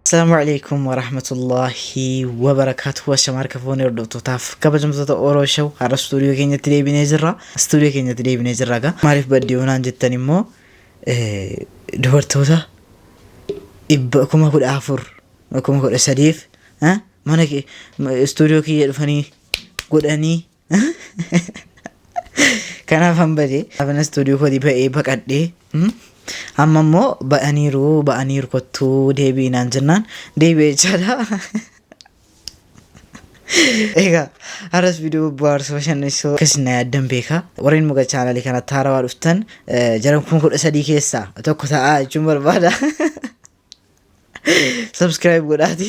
Assalamu alaikum warahmatullahi wabarakatuh Ashama harka fuunee hordoftotaaf kabajamtoota Oro Show har'a stuudiyoo keenyatti deebinee jirra stuudiyoo keenyatti deebinee jirra gaa maaliif baddee onaan jettan immoo eh, dubartoota dhibba kuma kudha afur kuma kudha sadiif eh, mana kee- ma- stuudiyoo kiyya dhufanii godhanii Kanaaf han badee. Afana istuudiyoo kootii ba'ee baqadhee. mm, Amma immoo ba'aniiru ba'aniiru kottuu deebi'i naan jennaan deebi'e jechaadha. Egaa har'as viidiyoo bohaarsa bashannansiisoo akkasiin na yaaddan beeka. Warreen muka chaanalii kanatti haarawaa dhuftan eh, jaran kuma kudha sadii keessaa tokko ta'aa jechuun barbaada. Subscribe godhaati.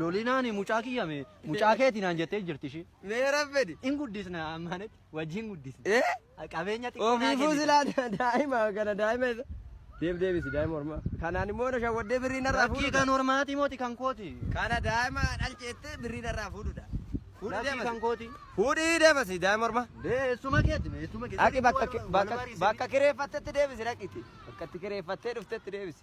Lolinaani mucaa kiyya mee mucaa keeti naan jettee jirti ishii. Mee rabbedi. In guddisna ammaanet wajjin guddisna. Eh? Qabeenya xiqqoo naa Ofiifuu kennita. silaa daa'ima kana daa'ima isa. Deeb deebisi daa'ima ormaa. Kanaan immoo na shawwaddee birrii narraa Lakkii fuudhuudha. kan hormaati mooti kan kooti. Kana daa'ima dhalcheettee birrii narraa fuudhuudha. Fuudhi Lakkii deemasi. kan kooti. Fuudhi deemasi daa'ima ormaa. Dee eessuma keeti mee eessuma keeti. Dhaqi bakka bakka bakka kireeffattetti deebisi dhaqitti. Bakka itti kireeffattee dhuftetti deebisi.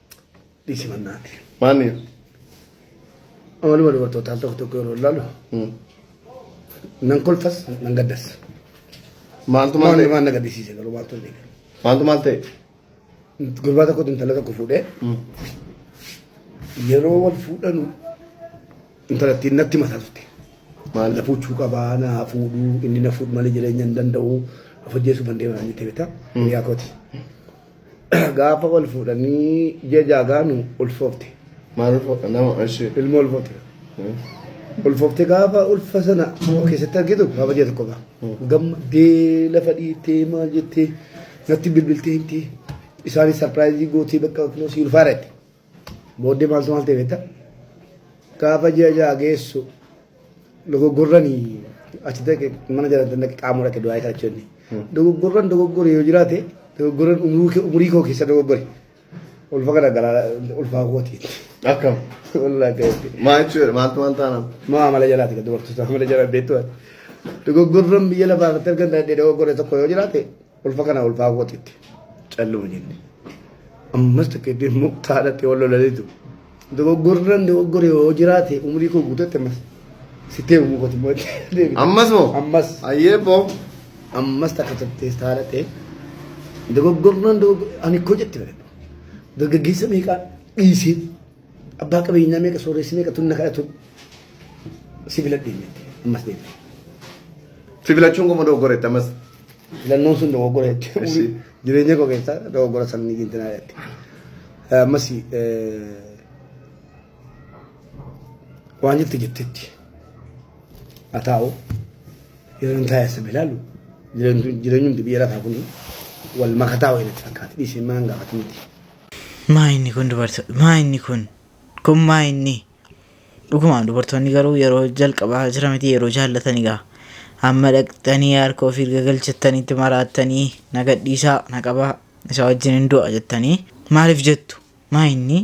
Dhiisi mannaa. Maanni Amaluma dubartootaa tokko tokko yeroo ilaalu nan kolfas nan gaddas. maaltu maal Maalli ta'e? waan na gaddisiise garuu maaltu hin eegalu. Maaltu maal ta'e? Gurbaa tokkotu intala tokko fuudhee yeroo wal fuudhanu intalattiin natti mataa turte. Maal? Na fuudhuu qabaa na fuudhuu inni na fuudhu malee jireenya hin danda'u of ajjeesuu kan deeman jettee beektaa. Yaa kooti. gaafa wal fuudhanii ji'a ja'a gaanu ulfoofte Maal ulfoota nama ishee. ilma ulfoofte ulfoofte gaafa ulfa sana of keessatti argitu gaafa ji'a tokko ba'a gammaddee lafa dhiittee maal jettee natti bilbiltee himtee isaanis sarpiraayizii gootee bakka kunoo si ulfaara jette Booddee maaltu maal ta'e beektaa? Gaafa ji'a ja'a geessu dogoggorrani achi dhaqe mana jalatti dhaqe qaamoo dhaqe du'aa kadhachuu inni. Dogoggorran dogoggore yoo jiraate dogoggorran umurii kee- umurii koo keessa dogoggore. Ulfa kana garaa ulfaa kooti. Akkam. Walaa ta'etti. Maa jechuudha maaltu maal taanaan. Maa amala jalaati kan dubartoota amala jalaa beektu. Dogoggorran biyya lafaa irratti argan dandeenye dogoggore tokko yoo jiraate Ulfa kana ulfaa kootitti calluma jenne. Ammas takka itti muktaadhatti wal lolaniitu. Dogoggorran dogoggore yoo jiraate umrii koo guututti ammas sittee uumuu kooti immoo deebi'e. Ammas moo? Ammas. Ayyee boo. Ammas takka turtee taadhatee dogoggorran dogoggore ani koo jette bareedu. Dargaggeessa meeqaa dhiisee Abbaa qabeenyaa meeqa sooressi meeqa tunna kadhatu si filadhee miti ammas deebi. Si filachuun qomoo dogoggoreetti ammas. Filannoon sun dogoggora jechuudha. Eshi. Jireenya koo keessaa dogoggora sabni gintinaa jedhatti. Ammas waan jirti jettetti haa taa'u yeroo hin taa'e saba ilaalu jireenyi jireenyi hundi biyya lafaa kun wal makataa wayii natti fakkaata dhiisee maan gaafatu miti. Maa inni kun dubarto maa inni kun kun maa inni dhugumaan dubartoonni garuu yeroo jalqabaa jira miti yeroo jaallatani gaa amma dhaqxanii harka ofii erga galchattanii itti maraattanii na gadhiisaa na qabaa isa wajjin hin du'a jettanii maaliif jettu maa inni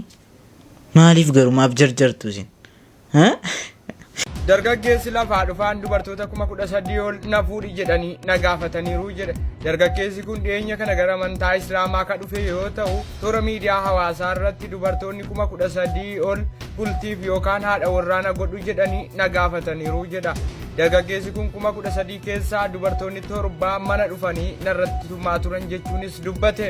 maaliif garuu maaf jarjartu isin Dargaggeessi lafaa dhufaan dubartoota kuma kudha sadii ol na fuudhi jedhanii na gaafataniiru jedhe. Dargaggeessi kun dhiyeenya kana gara amantaa Islaamaa ka dhufe yoo ta'u, toora miidiyaa hawaasaa irratti dubartoonni kuma kudha sadii ol bultiif yookaan haadha warraa na godhu jedhanii na gaafataniiru jedha. Dargaggeessi kun kuma kudha sadii keessaa dubartoonni torba mana dhufanii narratti tumaa turan jechuunis dubbate.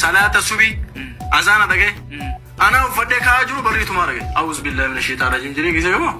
salaata subii azaana dhagee anaa uffadhee ka'aa jiru barrii tumaa dhagee awuz billahi mina sheetaan rajiim jedhee geesse gamoo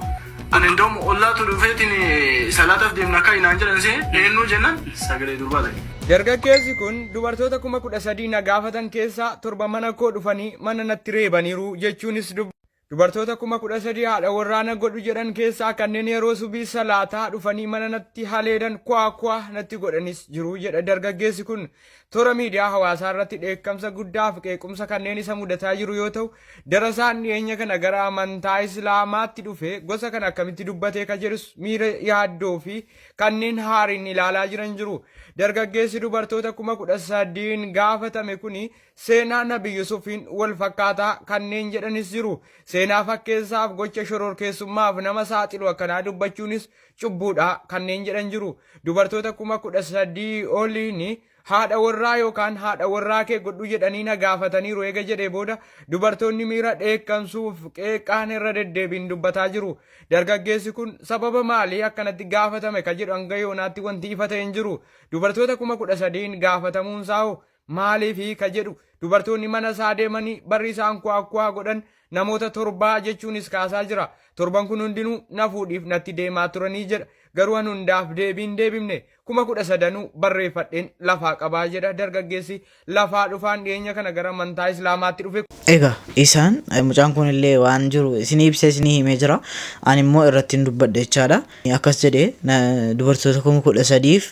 ani indoom ollaatu dhufeetiin salaataaf deemna akka inaan jedhan see eenyuu jennan sagalee durbaa dhagee. Dargaggeessi kun dubartoota kuma kudha sadii na gaafatan keessaa torba mana koo dhufanii mana natti reebaniiru jechuunis dubbata. Dubartoota kuma kudha sadii haadha warraa na godhu jedhan keessaa kanneen yeroo subii salaataa dhufanii mana natti haleelan kwaa kwaa natti godhanis jiru jedha dargaggeessi kun. Toora miidiyaa hawaasaa irratti dheekkamsa guddaa fi qeequmsa kanneen isa mudataa jiru yoo ta'u, darasaan dhiyeenya kana gara amantaa Islaamaatti dhufe gosa kana akkamitti dubbatee ka jedhus miira yaaddoo fi kanneen haariin ilaalaa jiran jiru. Dargaggeessi dubartoota kuma kudha sadiin gaafatame kuni Seenaa Nabi Yusufiin wal fakkaataa kanneen jedhanis jiru. Seenaa fakkeessaaf gocha shororkeessummaaf nama saaxilu akkanaa dubbachuunis cubbuudha kanneen jedhan jiru. Dubartoota kuma kudha sadii oliin haadha warraa yookaan haadha warraa kee godhu jedhanii na gaafataniiru eega jedhee booda dubartoonni miira dheekkamsuuf qeeqaan irra deddeebiin dubbataa jiru. Dargaggeessi kun sababa maalii akkanatti gaafatame ka jedhu hanga yoonaatti wanti ifa ta'e hin jiru. Dubartoota kuma kudha sadiin gaafatamuunsaa hoo Maaliifi? ka jedhu dubartoonni mana isaa deemanii barri isaan ku'aakku'aa godhan namoota torbaa jechuunis kaasaa jira. Torban kun hundinuu na fuudhiif natti deemaa turanii jedha. Garuu an hundaaf deebii hin deebifne. Kuma kudha sadanuu barreeffadheen lafaa qabaa jedha dargaggeessi lafaa dhufaan dhiyeenya kana gara amantaa Islaamaatti dhufe kun. Egaa isaan mucaan kun illee waan jiru isinii ibsee isinii himee jira. Ani immoo irrattiin dubbadhe jechaadha. Akkas jedhe dubartoota kuma kudha sadiif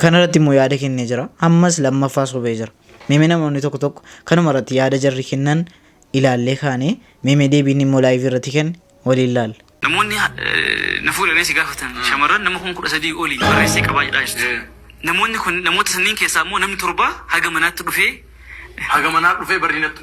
Kana irratti immoo yaada kennee jira. Ammas lammaffaa sobee jira. Meemee namoonni tokko tokko kanuma irratti yaada jarri kennan ilaallee kaanee meemee deebii inni immoo laayivii irratti kenne waliin ilaalla. Namoonni na fuudhanii si gaafatan shamarran nama kuma kudha sadii olii barreessee qabaa jedhaa jirti. Namoonni kun namoota sanniin keessaa immoo namni torbaa haga manaatti dhufee Haga manaa dhufee barrii natti.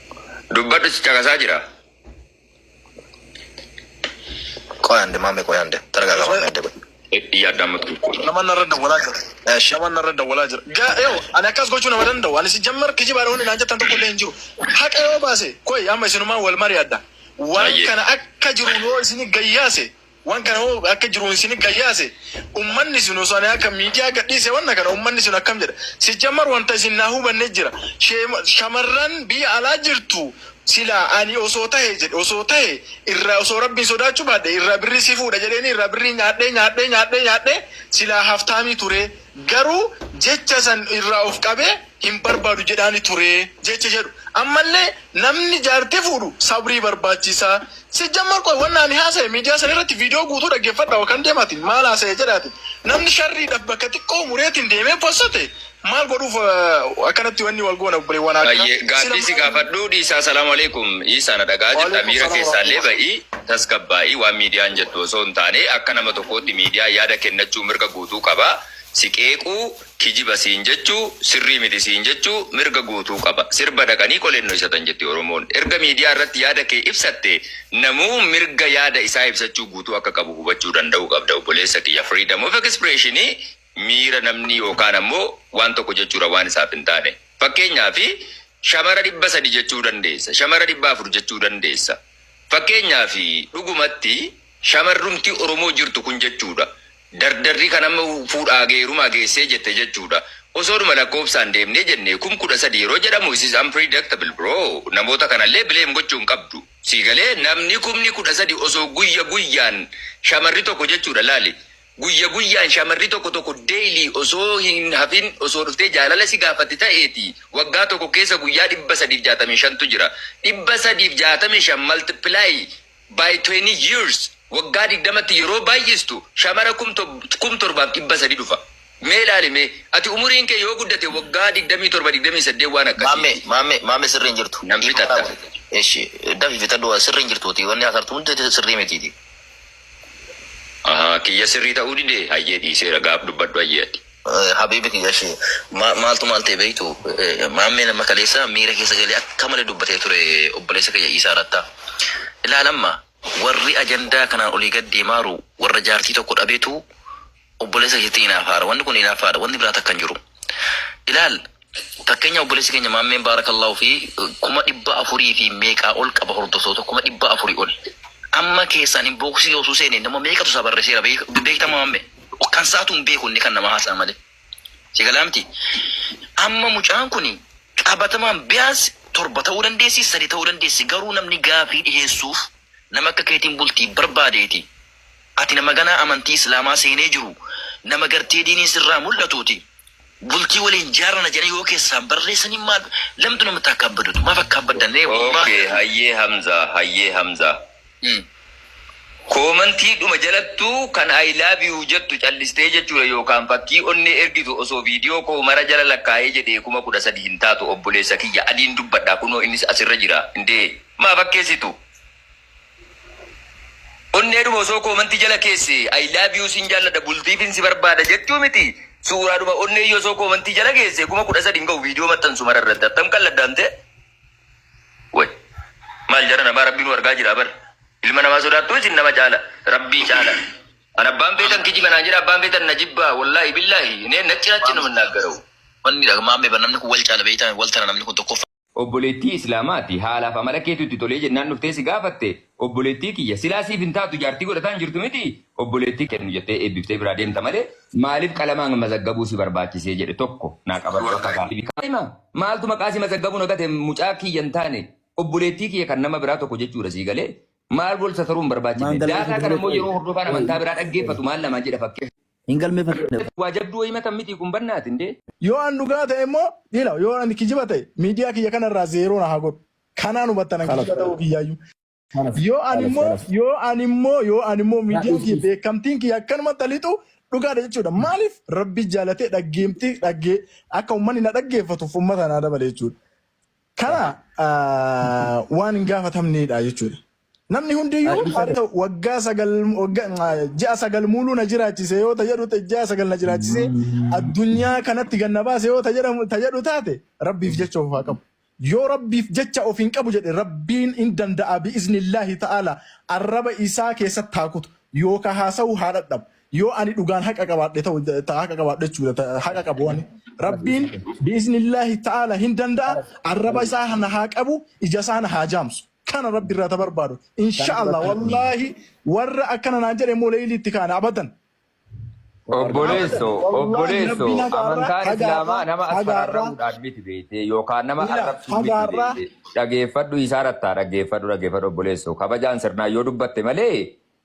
Dubbadhu si caqasaa jira. Qoy ande maame qoy ande targaaga maame ande qoy. Yaadda amma tokko. Nama narra dawwalaa jira. Eesh. Nama narra dawwalaa jira. Ga- Yoo ani akkas gochuu nama danda'u ani si jammar kijibaadha wanni naan jettan tokko illee hin jiru. Haqa yoo baase koi amma isinumaan wal mari'adha. Waan Baay'ee. kana akka jiru yoo isini gayyaase Wan kana hoo akka jiruun isini gayyaase ummanni sun osoo ani akka miidiyaa gadhiise wanna kana ummanni sun akkam jedha sijjammar wanta isin naa hubanne jira sheema shamarran biyya alaa jirtu silaa ani osoo tahe jedhe osoo tahe irraa osoo rabbiin sodaachuu baadhe irraa birrii si fuudha jedheeni irraa birrii nyaadhee nyaadhee nyaadhee nyaadhee silaa haftaamii turee Garuu jecha san irraa of qabee hin barbaadu jedhaani ture jecha jedhu. Ammallee namni jaartii fuudhu sabrii barbaachisa. Sijjammar qoy wanna ani haasaye miidiyaa san irratti viidiyoo guutuu dhaggeeffadhaa wakan deemaatiin maal haasaye jedhaatiin namni sharriidhaf bakka xiqqoo mureetiin deemee possate maal godhuuf akkanatti wanni wal goona obboleewwan akka Hayyee sila gaaffii si maal gaafadhuu dhiisaa salaamu alaikum Iisaa na dhaga'a jirta Waalaikum miira salam keessaallee warahmatullah. ba'ii tasgabbaa'ii waan miidiyaan jettu osoo hin taane akka nama tokkootti miidiyaan yaada kennachuu mirga guutuu qaba. Si qeequu, kijiba siin jechuu, sirrii miti siin jechuu mirga guutuu qaba. Sirba dhaqanii qoleen dhoysatan jetti Oromoon. Erga miidiyaa irratti yaada kee ibsatte namuu mirga yaada isaa ibsachuu guutuu akka qabu hubachuu danda'uu qabda obboleessa kiyya. Freedom of expression miira namni yookaan ammoo waan tokko jechuudha waan isaaf hin taane. Fakkeenyaaf shamara 300 jechuu dandeessa. Shamara 400 jechuu dandeessa. Fakkeenyaaf dhugumatti shamarrumti Oromoo jirtu kun jechuudha. Dardarri kan amma fuudhaa fi heerumaa geessee jette jechuudha. Osoodhuma lakkoofsaan deemnee jennee kum 13 yeroo jedhamu it is unpredictable bro. Namoota kana illee blame gochuu hin qabdu. Sii galee? Namni kumni 13 osoo guyya guyyaan shamarri tokko jechuudha laali guyya guyyaan shamarri tokko tokko daily osoo hin hafin osoo dhuftee jaalala si gaafatti ta'eeti waggaa tokko keessa guyyaa 365tu jira. 365 multiply by twenty years waggaa digdamatti yeroo baay'istu shamara kum kum torbaaf dhibba sadii dhufa mee ilaali mee ati umuriin kee yoo guddate waggaa digdamii torba digdamii saddeet waan akkasii Maamme ti maamme maamme sirri hin jirtu. nan Dhiifama naa fixatta. godhi. Eshi dafi fixadhu sirri hin jirtuuti wanni hasartu hundi sirrii mitiiti. Ahaa kiyya sirrii ta'uu dide hayyee dhiiseera gaaf dubbadhu hayyee ati. Habiibi kiyya eshi maaltu maal ta'e beektu maammeen amma kaleessa miira keessa galee akka malee dubbatee ture obboleessa kiyya Iisaa Rattaa. Ilaal amma warri ajandaa kanaan olii gad deemaaru warra jaartii tokko dhabetu obboleessa keetti inaafaaru. Wanni kun inaaffaadha. Wanni biraa takka hin jiru. Ilaal Fakkeenya obboleessi keenya maammeen baarakallaahu fi kuma dhibba afurii fi meeqaa ol qaba hordoftoota kuma dhibba afurii ol. Amma keessaan inboksii osoo seene nama meeqatu isaa barreesseera beekta maamme. Kan isaatu hin beeku inni kan nama haasaa malee. Si galaa miti. Amma mucaan kun qabatamaan biyaas torba ta'uu dandeessi sadi ta'uu dandeessi garuu namni gaafii dhiheessuuf nama akka keetiin bultii barbaadeeti. Ati nama ganaa amantii islaamaa seenee jiru nama gartee diiniin sirraa mul'atuuti. Bultii waliin jaarana jedhanii yoo keessaan barreessanii maal lamtu namatti akka abbadutu maaf akka abbaddan ree Okay, hayyee Hamza, hayyee Hamza. Koomantii dhuma jalattuu kan I love you jettu callistee jechuudha yookaan fakkii onnee ergitu osoo viidiyoo koo mara jala lakkaa'ee jedhee kuma kudha sadi hin taatu obboleessa kiyya adiin dubbadha kunoo innis asirra jira indee maa fakkeessitu. Onneedhuma osoo koomantii jala keesse I love you sin jaalladha bultiifin si barbaada jechuu miti suuraadhuma onneeyyuu osoo koomantii jala keesse kuma kudha sadii hin gahu viidiyoo maxxansu mara irratti attam qalladdaamte way maal jara namaa rabbiin wargaa jira bar ilma namaa sodaattuu isin nama caala rabbii caala an abbaan feetan kijiba naan jedha abbaan feetan na jibbaa wallaahi billaahi inee nacci nacci nama naaggarau Wanni dha maammee bar namni kun wal caala beektaa wal tana namni kun tokkoffaa. Obboleettii Islaamaati. Haalaaf amala keetu itti tolee jennaan dhuftee si gaafatte. Obboleettii kiyya, silaa siif hin taatu jaartii godhataa hin jirtu mitii? Obboleettii kennu jettee eebbiftee biraa deemta malee maaliif qalamaan mazaggabuu si barbaachisee? jedhe. Tokko naa qabadhu akka gaafii. Kaa'ima! Maaltu maqaa si mazaggabuu na gate mucaa kiyya hin taane obboleettii kiyya kan nama biraa tokko jechuudha sii galee? Maal wal sataruun barbaachifne? Daataa kana immoo yeroo hordofaan amantaa biraa dhaggeeffatu maal namaan jedha fakkeessu. Hin galmeeffanne. Waa jabduu wayii matan mitii kun bannaati indee. Yoo an dhugaa ta'e immoo ila yoo an kijiba ta'e miidiyaa kiyya kana irraa zeeroo na haa godhu. Kanaan hubattan an kijiba ta'uu kiyyaayyuu. Yoo an immoo yoo an immoo yoo an immoo miidiyaan kiyya beekamtiin kiyya akkanumatti haa lixu dhugaadha jechuudha. Maaliif Rabbi jaalatee dhaggeemtii dhaggee akka ummanni na dhaggeeffatuuf ummata naa dabale jechuudha. Kana waan hin gaafatamneedha jechuudha. Namni hundiyyuu Har'i isa har'a waggaa sagal wagga- ah, ji'a sagal muuluu na jiraachise yoo ta jedhu ta- ji'a sagal na jiraachise addunyaa kanatti ganna baase yoo ta jedhamu ta jedhu taate rabbiif jecha of haa qabu. Yoo rabbiif jecha of hin qabu jedhe rabbiin hin danda'a bi'iznillaahi ta'ala arraba isaa keessatti haa kutu yookaan haasa'uu haa dhadhabu. Yoo ani dhugaan haqa qabaadhe ta'u ta haqa qabaadhe jechuudha ta- haqa qabu ani. Rabbiin bi'iznillaahi ta'ala hin danda'a arraba isaa na haa qabu ija isaa na haa jaamsu. kana rabbi irraa ta barbaadu Kan insha allah duratti argina. wallaahi warra akkana naan jedhe immoo leeyilii itti kaana abadan Waa argina. abadan Obboleesso, wallaahi obboleesso, rabbiin hagaarraa amantaan hagaarraa islaamaa nama as hagaarraa fararramuudhaan miti beekte yookaan nama miila arrabsuun miti hagaarraa beekte. Dhageeffadhu isaa rattaa dhaggeeffadhu dhaggeeffadhu obboleesso. Kabajaan sirnaan yoo dubbatte malee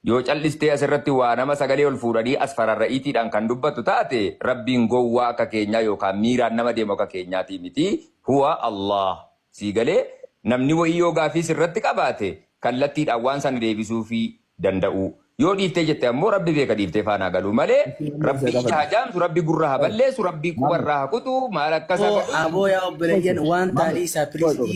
Yoo caldhistee as irratti waa nama sagalee ol fuudhanii as fararra'iitiidhaan kan dubbattu taate, Rabbiin gowwaa akka keenyaa yookaan miiraan nama deemu akka keenyaatii miti. Huwa Allaah. Sii galee? Namni wa'ii yoo gaaffii sirratti qabaate, kallattiidhaan waan sana deebisuufii danda'uu. Yoo dhiiftee jette ammoo Rabbi beeka dhiiftee faana haa galuu malee, Rabbi ija haa jaamsu, Rabbi gurra haa balleessu, Rabbi quba irraa haa kutu, maal akkas haa Aboo godhu? aboo yaa obboleeyyan waan taa dhiisaa please.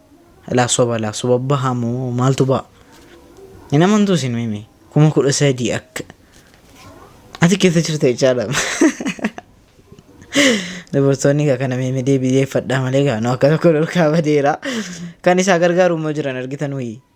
Alaa soba alaa soba baha moo maaltu baha hin amantuu isin mimi kuma kudha sadii akka ati keessa jirta jechaadha dubartoonni egaa kana mimi deebi'eeffadhaa malee egaa nu akka tokko dhorkaa badeera kan isaa gargaaru immoo jiran argitan wayii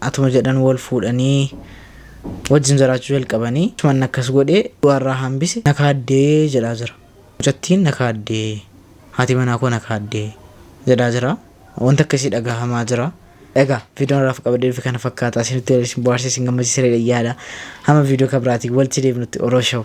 Atuma jedhan wal fuudhanii wajjin jiraachuu jalqabanii. Achumaan akkas godhe du'arraa hambise na kaadde jedhaa jira. Mucattiin na kaadde, haati manaa koo na kaadde jedhaa jira. Wanti akkasii dhagahamaa jira. Egaa viidiyoon har'aaf qabadhee dhufe kana fakkaata. Isinitti tolee, isin bohaarse, isin gammachiise jedhee yaada. Hamma viidiyoo kan biraatiin walitti deebinutti Orooshaw!